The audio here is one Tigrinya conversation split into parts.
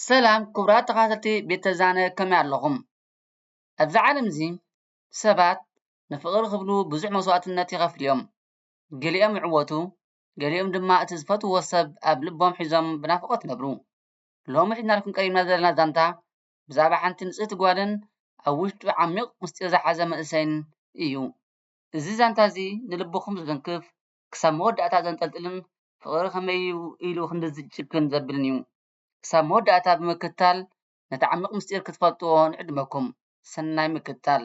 ሰላም ክቡራት ተኸታተልቲ ቤተ ዛነ ከመይ ኣለኹም? ኣብዛ ዓለም እዚ ሰባት ንፍቕሪ ክብሉ ብዙሕ መስዋእትነት ይኸፍሉ እዮም። ገሊኦም ይዕወቱ ገሊኦም ድማ እቲ ዝፈትውዎ ሰብ ኣብ ልቦም ሒዞም ብናፍቖት ይነብሩ። ሎሚ ሒዝናልኩም ቀሪብና ዘለና ዛንታ ብዛዕባ ሓንቲ ንጽህቲ ጓልን ኣብ ውሽጡ ዓሚቕ ምስጢር ዝሓዘ መንእሰይን እዩ። እዚ ዛንታ እዚ ንልብኹም ዝትንክፍ ክሳብ መወዳእታ ዘንጠልጥልን ፍቕሪ ከመይ እዩ ኢሉ ክንድዚ ጭክን ዘብልን እዩ። ክሳብ መወዳእታ ብምክትታል ነቲ ዓሚቕ ምስጢር ክትፈልጥዎ ንዕድመኩም። ሰናይ ምክትታል!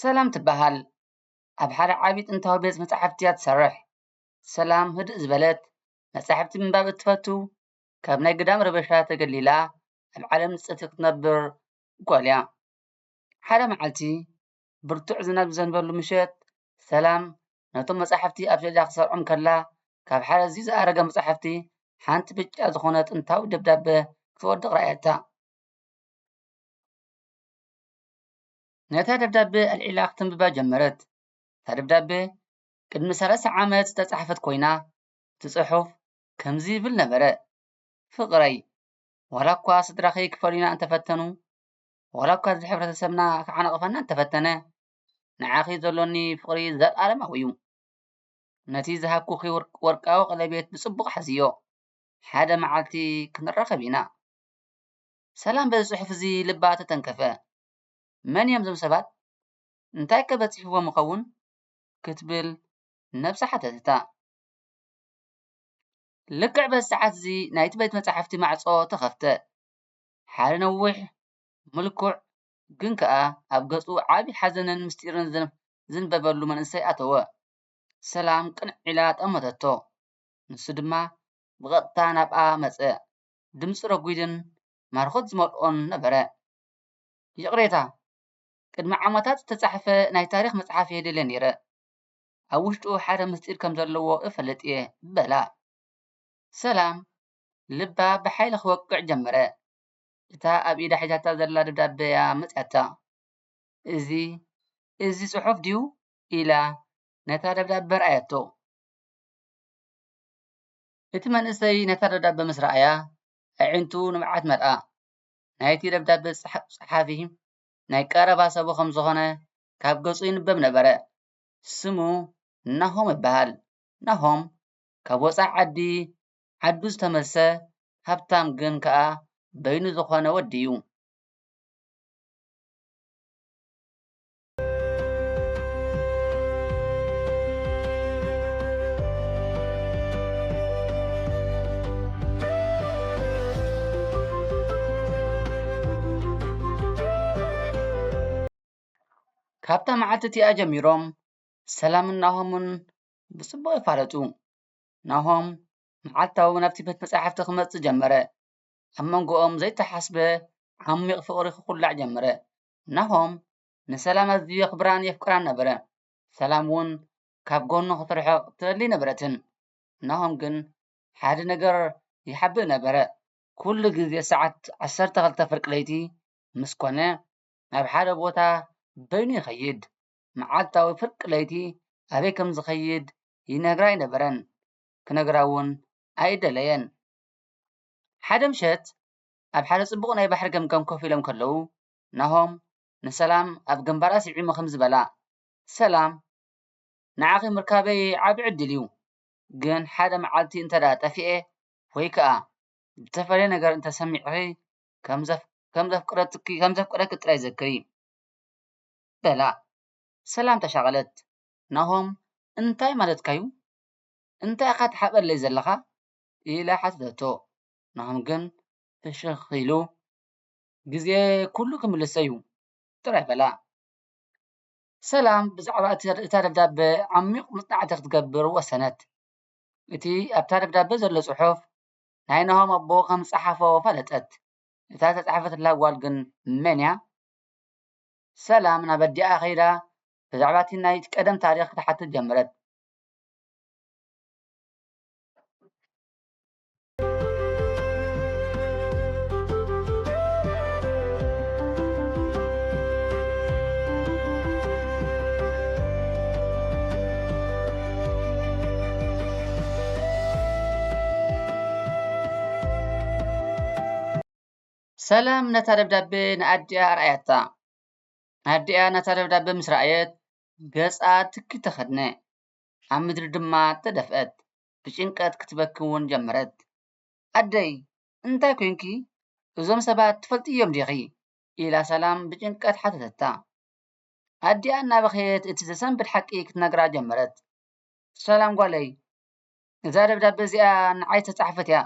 ሰላም ትበሃል ኣብ ሓደ ዓቢ ጥንታዊ ቤት መጻሕፍቲ እያ ትሰርሕ ሰላም ህድእ ዝበለት መጻሕፍቲ ምንባብ እትፈቱ ካብ ናይ ግዳም ረበሻ ተገሊላ ኣብ ዓለም ንጽህቲ ክትነብር ጓል እያ ሓደ መዓልቲ ብርቱዕ ዝናብ ዝዘንበሉ ምሸት ሰላም ነቶም መጻሕፍቲ ኣብ ሸልፍ ክትሰርዖም ከላ ካብ ሓደ ኣዝዩ ዝኣረገ መጻሕፍቲ ሓንቲ ብጫ ዝኾነ ጥንታዊ ደብዳበ ክትወድቕ ረኣየታ። ነታ ደብዳቤ ኣልዒላ ክትንብባ ጀመረት። እታ ደብዳቤ ቅድሚ ሰላሳ ዓመት ዝተጻሕፈት ኰይና፣ እቲ ጽሑፍ ከምዚ ይብል ነበረ፣ ፍቕረይ፣ ዋላ እኳ ስድራኺ ክፈልዩና እንተ ፈተኑ፣ ዋላ እኳ እዚ ሕብረተሰብና ክዓንቕፈና እንተ ፈተነ፣ ንዓኺ ዘሎኒ ፍቕሪ ዘልኣለማዊ እዩ። ነቲ ዝሃብኩኺ ወርቃዊ ቀለቤት ብጽቡቕ ሓዝዮ። ሓደ መዓልቲ ክንራኸብ ኢና። ሰላም በዚ ጽሑፍ እዚ ልባ ተተንከፈ። መን እዮም እዞም ሰባት? እንታይከ በጺሕዎም ይኸውን? ክትብል ነብሳ ሓተተታ። ልክዕ በዚ ሰዓት እዚ ናይቲ ቤት መጻሕፍቲ ማዕጾ ተኸፍተ። ሓደ ነዊሕ፣ ምልኩዕ፣ ግን ከኣ ኣብ ገጹ ዓቢ ሓዘንን ምስጢርን ዝንበበሉ መንእሰይ ኣተወ። ሰላም ቅንዕ ኢላ ጠመተቶ። ንሱ ድማ ብቐጥታ ናብኣ መጸ። ድምጺ ረጒድን ማርኾት ዝመልኦን ነበረ። ይቕሬታ፣ ቅድሚ ዓመታት ዝተጻሕፈ ናይ ታሪኽ መጽሓፍ እየ ደልየ ነይረ። ኣብ ውሽጡ ሓደ ምስጢር ከም ዘለዎ እፈልጥ እየ በላ። ሰላም፣ ልባ ብሓይሊ ክወቅዕ ጀመረ። እታ ኣብ ኢዳ ሒዛታ ዘላ ደብዳበ እያ መጺኣታ። እዚ፣ እዚ ጽሑፍ ድዩ? ኢላ ነታ ደብዳበ ኣርኣየቶ። እቲ መንእሰይ ነታ ደብዳበ ምስ ረኣያ፣ ኣዒንቱ ንብዓት መልኣ። ናይቲ ደብዳበ ጸሓፊ ናይ ቀረባ ሰቡ ኸም ዝዀነ ካብ ገጹ ይንበብ ነበረ። ስሙ ናሆም ይበሃል። ናሆም ካብ ወጻኢ ዓዲ ዓዱ ዝተመልሰ ሃብታም ግን ከኣ በይኑ ዝዀነ ወዲ'ዩ። ካብታ መዓልቲ እቲኣ ጀሚሮም ሰላምን ናሆምን ብፅቡቕ ይፋለጡ። ናሆም መዓልታዊ ናብቲ ቤት መፃሕፍቲ ክመፅእ ጀመረ። ኣብ መንጎኦም ዘይተሓስበ ዓሚቕ ፍቕሪ ክኹላዕ ጀመረ። ናሆም ንሰላም ኣዝዩ የኽብራን የፍቅራን ነበረ። ሰላም እውን ካብ ጎኑ ክትርሕቕ ትደሊ ኣይነበረትን። ናሆም ግን ሓደ ነገር ይሓብእ ነበረ። ኩሉ ግዜ ሰዓት ዓሰርተ ክልተ ፍርቂ ለይቲ ምስ ኮነ ናብ ሓደ ቦታ በይኑ ይኸይድ። መዓልታዊ ፍርቂ ለይቲ ኣበይ ከም ዝኸይድ ይነግራ ኣይነበረን፣ ክነግራ እውን ኣይደለየን። ሓደ ምሸት ኣብ ሓደ ጽቡቕ ናይ ባሕሪ ገምገም ኮፍ ኢሎም ከለዉ፣ ናሆም ንሰላም ኣብ ግንባራ ስዒሙ ከምዚ በላ፣ ሰላም፣ ንዓኺ ምርካበይ ዓቢ ዕድል እዩ፣ ግን ሓደ መዓልቲ እንተድኣ ጠፊኤ ወይ ከኣ ዝተፈልየ ነገር እንተ ሰሚዕኺ ከም ዘፍቅረኪ ጥራይ ዘክሪ። በላ። ሰላም ተሻቐለት። ናሆም እንታይ ማለትካ'ዩ? እንታይ ኢኻ ትሓበለይ ዘለኻ? ኢላ ሓተተቶ። ንዖም ግን ፍሽኽ ኢሉ ግዜ ኩሉ ክምልሶ እዩ ጥራይ በላ። ሰላም ብዛዕባ እታ ደብዳበ ዓሚቝ መጽናዕቲ ክትገብር ወሰነት። እቲ ኣብታ ደብዳበ ዘሎ ጽሑፍ ናይ ናሆም ኣቦ ኸም ዝጸሓፎ ፈለጠት። እታ እተጻሕፈትላ ጓል ግን መን እያ? ሰላም ናብ ኣዲኣ ኸይዳ ብዛዕባ እቲ ናይ ቀደም ታሪኽ ክትሓትት ጀመረት። ሰላም ነታ ደብዳቤ ንኣዲኣ ኣርኣያታ ኣዲኣ ነታ ደብዳቤ ምስ ረኣየት ገጻ ትኪ ተኸድነ ኣብ ምድሪ ድማ ተደፍአት ብጭንቀት ክትበኪ እውን ጀመረት። ኣደይ እንታይ ኰይንኪ? እዞም ሰባት ትፈልጥዮም ዲኺ? ኢላ ሰላም ብጭንቀት ሓተተታ። ኣዲኣ እናበኸየት እቲ ዘሰንብድ ሓቂ ክትነግራ ጀመረት። ሰላም ጓለይ፣ እዛ ደብዳበ እዚኣ ንዓይ ዝተጻሕፈት እያ።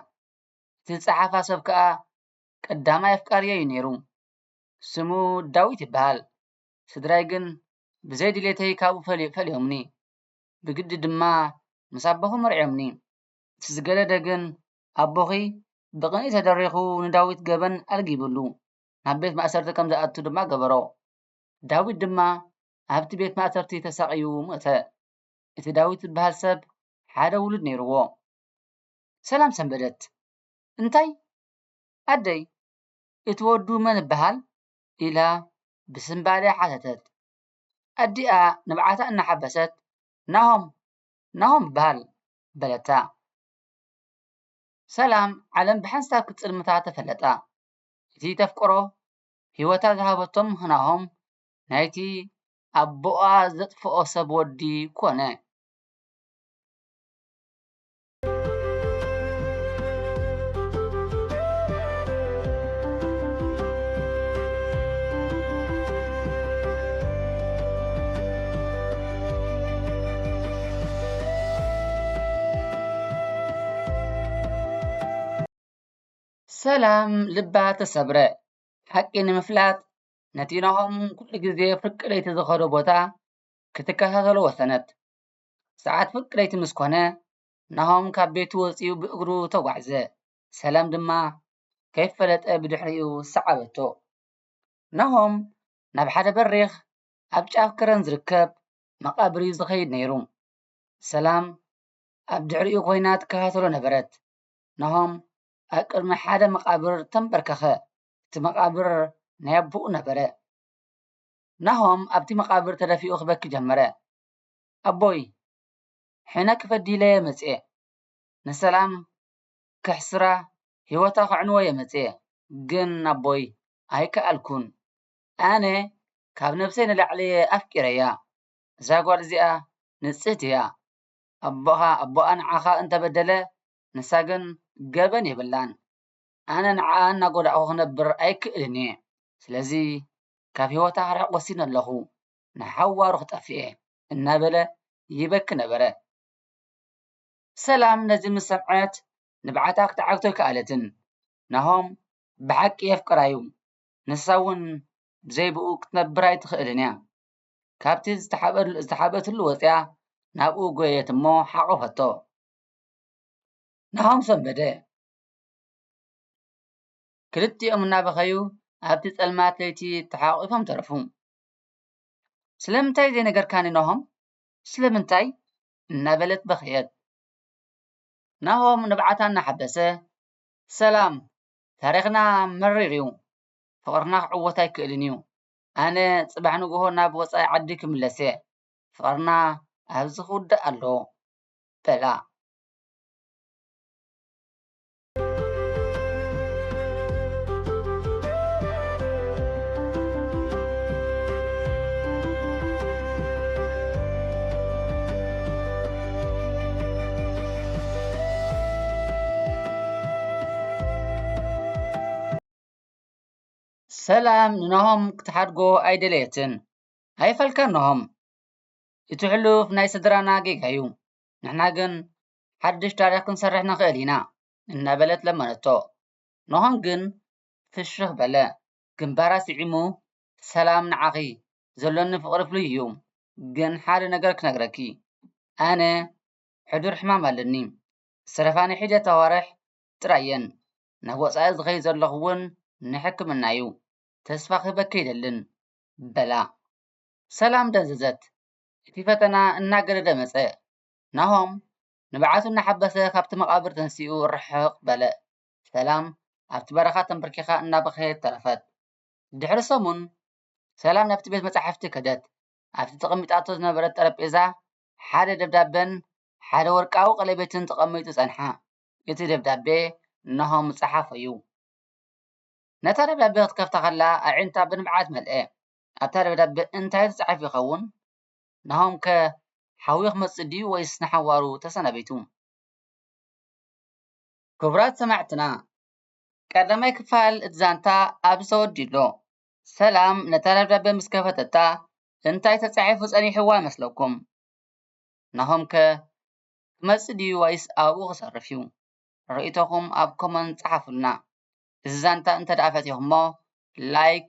እቲ ዝጸሓፋ ሰብ ከኣ ቀዳማይ ኣፍቃሪየይ እዩ ነይሩ። ስሙ ዳዊት ይበሃል። ስድራይ ግን ብዘይ ድሌተይ ካብኡ ፈሊዮምኒ። ብግዲ ድማ ምስ ኣቦኺ መርዕዮምኒ። እቲ ዝገደደ ግን ኣቦኺ ብቕንኢ ተደሪኹ ንዳዊት ገበን ኣልጊብሉ ናብ ቤት ማእሰርቲ ከም ዝኣቱ ድማ ገበሮ። ዳዊት ድማ ኣብቲ ቤት ማእሰርቲ ተሳቕዩ ሞተ። እቲ ዳዊት ዝበሃል ሰብ ሓደ ውሉድ ነይርዎ። ሰላም ሰንበደት። እንታይ? ኣደይ እቲ ወዱ መን እበሃል? ኢላ ብስንባደ ሓተተት። ኣዲኣ ንብዓታ እናሓበሰት ናሆም ናሆም በሃል በለታ። ሰላም ዓለም ብሓንሳብ ክትጽልምታ ተፈለጣ። እቲ ተፍቅሮ ህይወታ ዝሃበቶም ናሆም ናይቲ ኣቦኣ ዘጥፍኦ ሰብ ወዲ ኮነ። ሰላም ልባ ተሰብረ ሓቂ ንምፍላጥ ነቲ ናሆም ኩሉ ግዜ ፍርቂ ለይቲ ዝኸዶ ቦታ ክትከታተሎ ወሰነት። ሰዓት ፍርቂ ለይቲ ምስ ኮነ ናሆም ካብ ቤቱ ወጺኡ ብእግሩ ተጓዕዘ። ሰላም ድማ ከይፈለጠ ብድሕሪኡ ሰዓበቶ። ናሆም ናብ ሓደ በሪኽ ኣብ ጫፍ ከረን ዝርከብ መቓብር'ዩ ዝኸይድ ነይሩ። ሰላም ኣብ ድሕሪኡ ኮይና ትከታተሎ ነበረት። ናሆም ኣብ ቅድሚ ሓደ መቓብር ተንበርከኸ። እቲ መቓብር ናይ ኣቦኡ ነበረ። ናሆም ኣብቲ መቓብር ተደፊኡ ክበኪ ጀመረ። ኣቦይ ሕነ ክፈዲለየ መጽየ ንሰላም ከሕስራ ሂወታ ከዕንወየ መጽየ ግን ኣቦይ ኣይከኣልኩን ኣነ ካብ ነብሰይ ንላዕሊየ ኣፍቂረያ እዛ ጋል እዚኣ ንጽህቲ እያ ኣቦኻ ኣቦኣ ንዓኻ እንተበደለ ንሳ ግን ገበን የብላን ኣነ ንዓኣ እናጎዳእኩ ክነብር ኣይክእልን እየ ስለዚ ካብ ሂወታ ክርሕቅ ወሲነ ኣለኹ ንሓዋሩ ክጠፍእየ እናበለ ይበኪ ነበረ። ሰላም ነዚ ምስ ሰምዐት ንብዓታ ክትዓግቶ ኣይከኣለትን። ናሆም ብሓቂ የፍቅራ'ዩ፣ ንሳ'ውን ብዘይ ብእኡ ክትነብር ኣይትኽእልን'ያ። ካብቲ ዝተሓብኣትሉ ወጺኣ ናብኡ ጎየየት'ሞ ሓቖፈቶ። ናሆም ሰንበደ። ክልቲኦም እናበኸዩ ኣብቲ ጸልማት ለይቲ ተሓቛቒፎም ተረፉ። ስለምንታይ ዘይነገርካኒ ናሆም ስለምንታይ እናበለት በኸየት። ናሆም ንብዓታ እናሓበሰ ሰላም ታሪኽና መሪር እዩ ፍቕርና ክዕወት ኣይክእልን እዩ ኣነ ፅባሕ ንግሆ ናብ ወፃኢ ዓዲ ክምለስ እየ ፍቕርና ኣብዚ ክውዳእ ኣለዎ በላ። ሰላም ንናሆም ክትሓድጎ ኣይደለየትን ኣይፈልካን ናሆም እቲ ሕሉፍ ናይ ስድራና ጌጋ እዩ ንሕና ግን ሓድሽ ታሪኽ ክንሰርሕ ንኽእል ኢና፣ እናበለት ለመነቶ። ኖሆም ግን ፍሽኽ በለ። ግንባራ ስዒሙ፣ ሰላም ንዓኺ፣ ዘሎኒ ፍቕሪ ፍሉይ እዩ። ግን ሓደ ነገር ክነግረኪ፣ ኣነ ሕዱር ሕማም ኣለኒ። ሰረፋኒ ሒደት ኣዋርሕ ጥራይ እየን፣ ናብ ወጻኢ ዝኸይድ ዘለኹ እውን ንሕክምና እዩ። ተስፋ ክህበኪ ኣይደልን፣ በላ። ሰላም ደንዘዘት። እቲ ፈተና እናገደደ መጸ። ናሆም ንብዓቱ እናሓበሰ ካብቲ መቓብር ተንሲኡ ርሕቕ በለ። ሰላም ኣብቲ በረኻ ተምበርኪኻ እናበኸየት ተረፈት። ድሕሪ ሰሙን፣ ሰላም ናብቲ ቤት መጻሕፍቲ ከደት። ኣብቲ ተቐሚጣቶ ዝነበረት ጠረጴዛ ሓደ ደብዳበን ሓደ ወርቃዊ ቀለቤትን ተቐሚጡ ጸንሓ። እቲ ደብዳበ ናሆም ዝጸሓፎ'ዩ። ነታ ደብዳበ ክትከፍታ ከላ ኣዒንታ ብንብዓት መልአ። ኣብታ ደብዳበ እንታይ ተጻሒፉ ይኸውን? ናሆም ከ ሓዊ ክመጽእ ድዩ ወይስ ንሓዋሩ ተሰናቢቱ? ክቡራት ሰማዕትና ቀዳማይ ክፋል እቲ ዛንታ ኣብዚ ተወዲኡ ኣሎ። ሰላም ነታ ደብዳበ ምስ ከፈተታ እንታይ ተጻሒፉ ጸኒሕዋ ይመስለኩም? ናሆም ከ ክመጽእ ድዩ ወይስ ኣብኡ ክተርፍ እዩ? ርእይቶኹም ኣብ ኮመንት ጸሓፉልና። እዚ ዛንታ እንተድኣ ፈቲኹሞ ላይክ፣